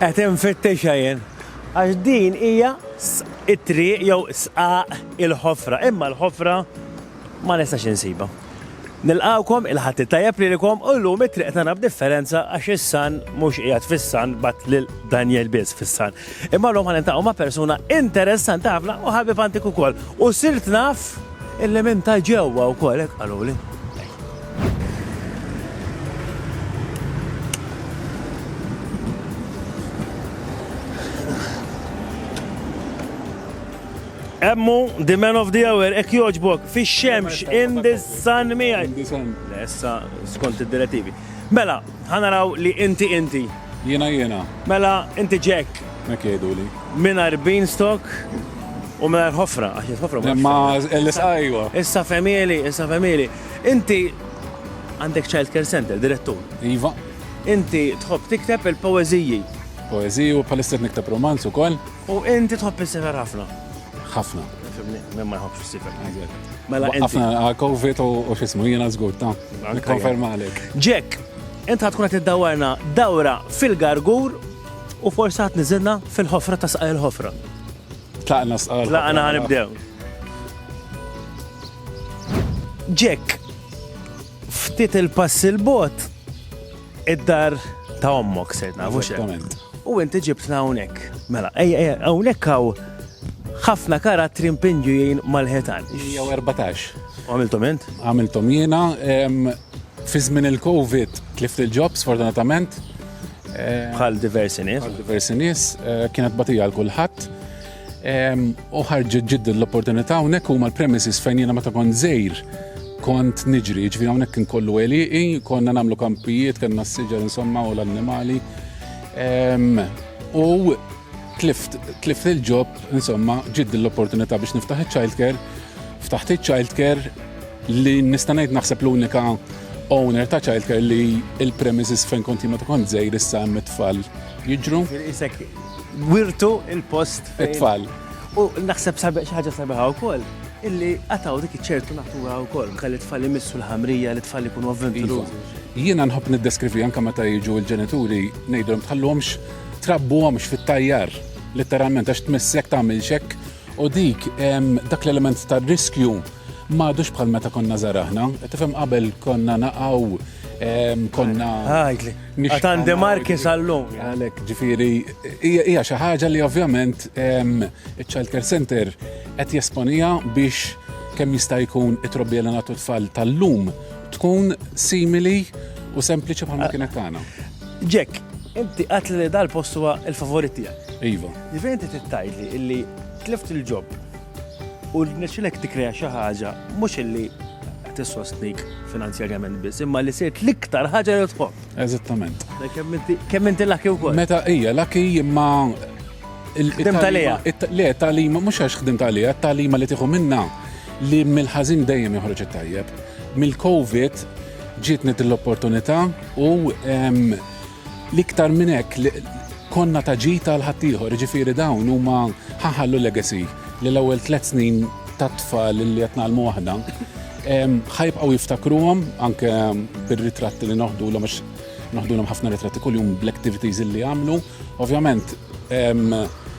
Qed infittixa jien. Għax din hija it-triq jew sqaq il-ħofra, imma l-ħofra ma nistax insiba. Nilqawkom il-Ħadd it-tajjeb lilkom u llum it-triq tagħna b'differenza għax is-Sun mhux qiegħed fis-Sun bgħatt lil Daniel biss fis-Sun. Imma llum ħa niltaqgħu ma' persuna interessanti ħafna u ħabib antik ukoll. U sirt naf illi minn ta' ġewwa wkoll hekk qaluli. Emmu, the man of the hour, ek joġbok, fi xemx, in the sun miħaj. Lessa, skont id-direttivi. Mela, ħanaraw li inti inti. Jiena jiena. Mela inti Jack. Hekk jgħiduli. Mingħajr beanstalk u mingħajr ħofra għax il-ħofra ma. Ma l-isqajwa. Issa femieli, issa femieli. Inti għandek childcare center, direttur. Iva. Inti tħobb tikteb il-poeżiji. Poeżiji u bħalissa qed nikteb romanz ukoll. U inti tħobb is-sifer ħafna? Ħafna. Fimni, minn ma jħobbx is-sifer. Mela inti. Ħafna ah, Covid u x'ismu jiena żgur ta. Nikkonferma għalek. Jack, int ħatkun qed iddawarna dawra fil-gargur u forsi ħadd niżilna fil-ħofra ta' saqaj il-ħofra. Tlaqna saqaj. Tlaqna ħanibdew. Jack, ftit il-pass il-bot, Id-dar ta' ommok serna, mhux hekk. U inti ġibtna hawnhekk. Mela, hawnhekk hawn ħafna karattri mpinġujin mal-ħetan. Jew 14. Għamiltom int? Għamiltom jiena. Fi żmien il-COVID tlift il-ġobs, fortunatament. Bħal diversi nies. Bħal diversi nies, eh, kienet batija għal kulħadd. U ħarġet ġidda l-opportunità hawnhekk huma l-premises fejn jiena meta kont żejr kont niġri, ġvi hawnhekk kien kollu għeliqi, konna nagħmlu kampijiet, kellna s-siġar insomma u l-annimali. U tlift il-ġob, insomma, ġid l-opportunità biex niftaħ il-childcare, ftaħt il-childcare li nistanajt naħseb l-unika owner ta' childcare li il-premises fejn konti ma ta' kont zejr issa mit-tfal jiġru. Wirtu il-post. It-tfal. U naħseb sabi ħaġa sabiħa wkoll illi għataw dik ċertu natura wkoll kelli tfal imissu l-ħamrija li tfal ikunu avventurużi. Iva. Jiena nħobb niddeskrivi anke meta jiġu l-ġenituri ngħidulhom tħallhomx trabbuhomx fit-tajjar letteralment għax tmissek tagħmel xekk u dik dak l-element tar-riskju m'għadux bħal meta konna żaraħna. Tifhem qabel konna naqgħu Konna. Għajtli. Għatan demarki sal-lum. Għalek, ġifiri, hija xi ħaġa li ovvjament il-Child Care Center qed jesponija biex kemm jista' jkun it-trobbi għal natu tfal tal-lum tkun simili u sempliċi bħalma kienet tagħna. Jack, inti qatt li dal-post huwa il-favorit tiegħek. Iva. Ġifieri inti tittajli illi tlift il-ġob U rnexxilek tikkrea xi ħaġa mhux illi tissostnik finanzjarjament biss, imma li sirt l-iktar ħaġa li tħobb. Eżattament. Kemm inti laki wkoll? Meta hija laki imma il-ħdim tal-ija. Le, tal-ima, mhux għax ħdim tal-ija, tal-ima li tieħu minna li mill-ħażin dejjem joħroġ it-tajjeb. Mill-COVID ġietni l-opportunità u L-iktar minn hekk li konna ta' ġid għal ħaddieħor, jiġifieri dawn huma ħa ħallu legacy li l-ewwel tliet snin tat-tfal li qed ngħallmu aħna ħa jibqgħu jiftakruhom anke bir-ritratti li noħdulhom għax noħdulhom ħafna ritratti kuljum bl-activities li jagħmlu. Ovvjament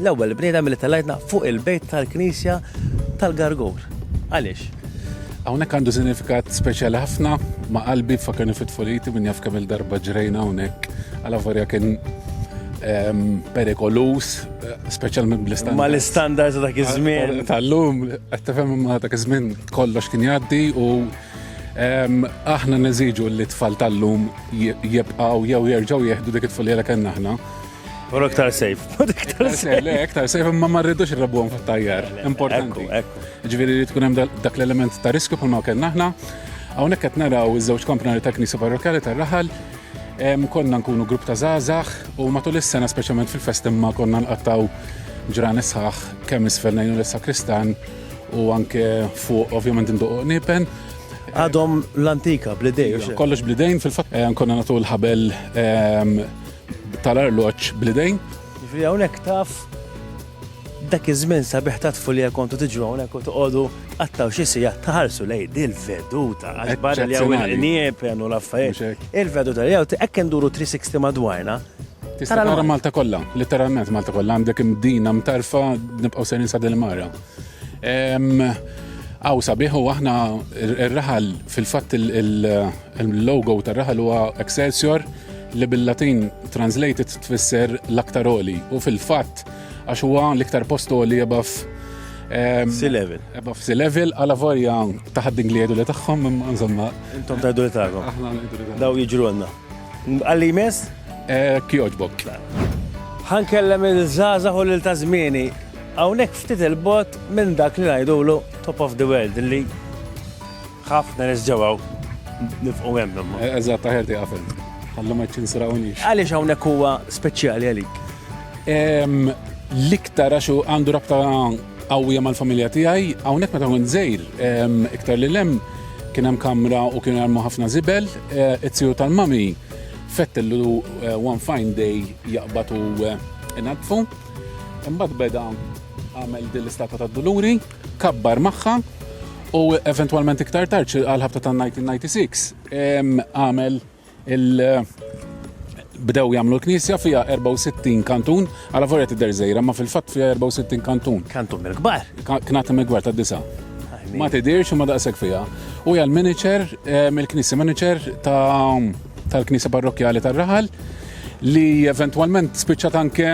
L-ewwel bniedem li tellgħetna fuq il-bejt tal-Knisja tal-Gargur. Għaliex? Hawnhekk għandu sinifikat speċjali ħafna ma' qalbi fakarni fit-tfoliti minn jaf kemm il-darba ġrejna hawnhekk għal varja kien ehm, perikolus, eh, speċjalment bl-istandards. Ma l-istandards dak iż-żmien. Tal-lum, qed tifhem ma dak iż-żmien kollox kien jgħaddi u ehm, aħna neżiġu li tfal tal-lum jibqgħu jew jerġgħu jieħdu dik it-tfulija li kellna aħna. U iktar safe. Iktar safe, le, iktar safe, ma ma rridux irrabuhom fit-tajjar. Importanti. Ġifieri li tkun hemm dak l-element ta' riskju bħalma kellna aħna. Hawnhekk qed naraw iż-żewġ komponenti ta' Knisa Parrokjali tar-Raħal konna nkunu grupp ta' zazax u matul is-sena speċjalment fil-fest imma konna nqattaw ġran isħaħ kemm isfel ngħinu l-sakristan u anke fuq ovvjament indoq nipen. Għadhom l-antika, blidej. Kollox blidejn fil-fatt eh, konna natu l-ħabel ehm, tal-arloġġ bl-idejn. Jiġifieri hawnhekk taf dak iż-żmien sabiħ ta' tfulija kontu tiġu hawnhekk u toqgħodu qattgħu xi siegħa tħarsu lejn il-veduta għax barra li hawn il-qnieb u l-affarijiet. Il-veduta li hawn hekk induru 360 madwarna. Tista' tara Malta kollha, litteralment Malta kollha għandek imdina mtarfa nibqgħu sejrin sa Dil Mara. Aw sabiħ u aħna r-raħal fil-fatt il-logo tar-raħal huwa Excelsior li bil-Latin translated tfisser l-aktar oli u fil-fatt għax huwa l-iktar post oli above si level. Above si level għala vorja taħad ingli li tagħhom insomma. Intom taħdu li tagħhom. Daw jiġru għandna. Għalli jmiss? Hekk jogħġbok. Ħa nkellem il-żgħażagħ u lil ta' żmieni. Hawnhekk ftit il-bogħod minn dak li ngħidulu top of the world li ħafna nies ġewwa nifqu hemm. Eżatt, aħjar tieqaf hemm. Ħallu ma ċċinsirawniex. Għaliex hawnhekk huwa speċjali għalik? L-iktar għax għandu rabta qawwija mal-familja tiegħi, hawnhekk meta kont żgħir iktar lil hemm, Kien hemm kamra u kienu jarmu ħafna żibel. It-tiju tal-mami fettillu one fine day jaqbad u inadfu. Imbagħad beda għamel din l-istatwa ta' Duluri, kabbar magħha u eventwalment iktar tard għal-ħabta ta' 1996 għamel bdew jagħmlu l-knisja fiha 64 kantun, għala vorja tidher żejra, ma fil-fatt fiha 64 kantun. Kantun mill-kbar? Knati mill-kbar ta' disa. Ma tidirx ma daqshekk fiha. U hija l-manager, eh, mill-knisja manager tal-knisja parrokjali tar-raħal li eventwalment spiċċat anke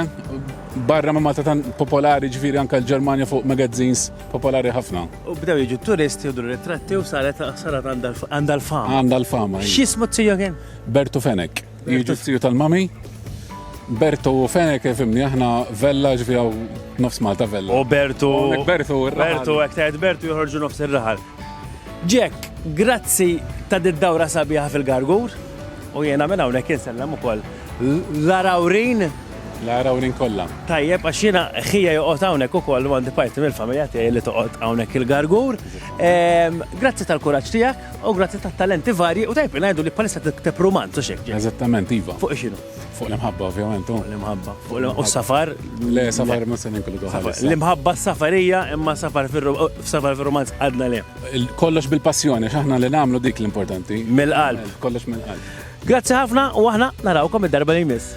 barra ma Malta tan popolari ġviri anke l-Ġermanja fuq magazzins popolari ħafna. U bdew jiġu turisti u dur ritratti u saret saret għandha l-fama. Għandha l-fama. X'ismu t-tiju kien? Bertu Fenek. Jiġu t-tiju tal-mami. Bertu Fenek, fimni, aħna vella ġvija u nofs Malta vella. U Bertu. Bertu, Bertu, ektajt Bertu joħorġu nofs ir-raħal. Ġek, grazzi ta' did-dawra sabiħa fil-gargur. U jena minna unek jinsellem u koll. Larawrin. Lara u Lynn kollha. Tajjeb, għax jiena ħija joqgħod hawnhekk ukoll u għandi parti mill-familja tiegħi li toqgħod hawnhekk il-Gargur. Grazzi tal-kuraġġ tiegħek u grazzi tat-talenti varji u tajjeb ngħidu li bħalissa tikteb rumanz u x'hekk. Eżattament, iva. Fuq x'inhu? Fuq l-imħabba ovvjament. Fuq l-imħabba. U s-safar? Le, safar ma se ninkludu bħalissa. L-imħabba s-safar hija imma safar fir-rumanz għadna le. Kollox bil-passjoni, x'aħna li nagħmlu dik l-importanti. Mill-qalb. Kollox mill-qalb. Grazzi ħafna u aħna narawkom id-darba li jmiss.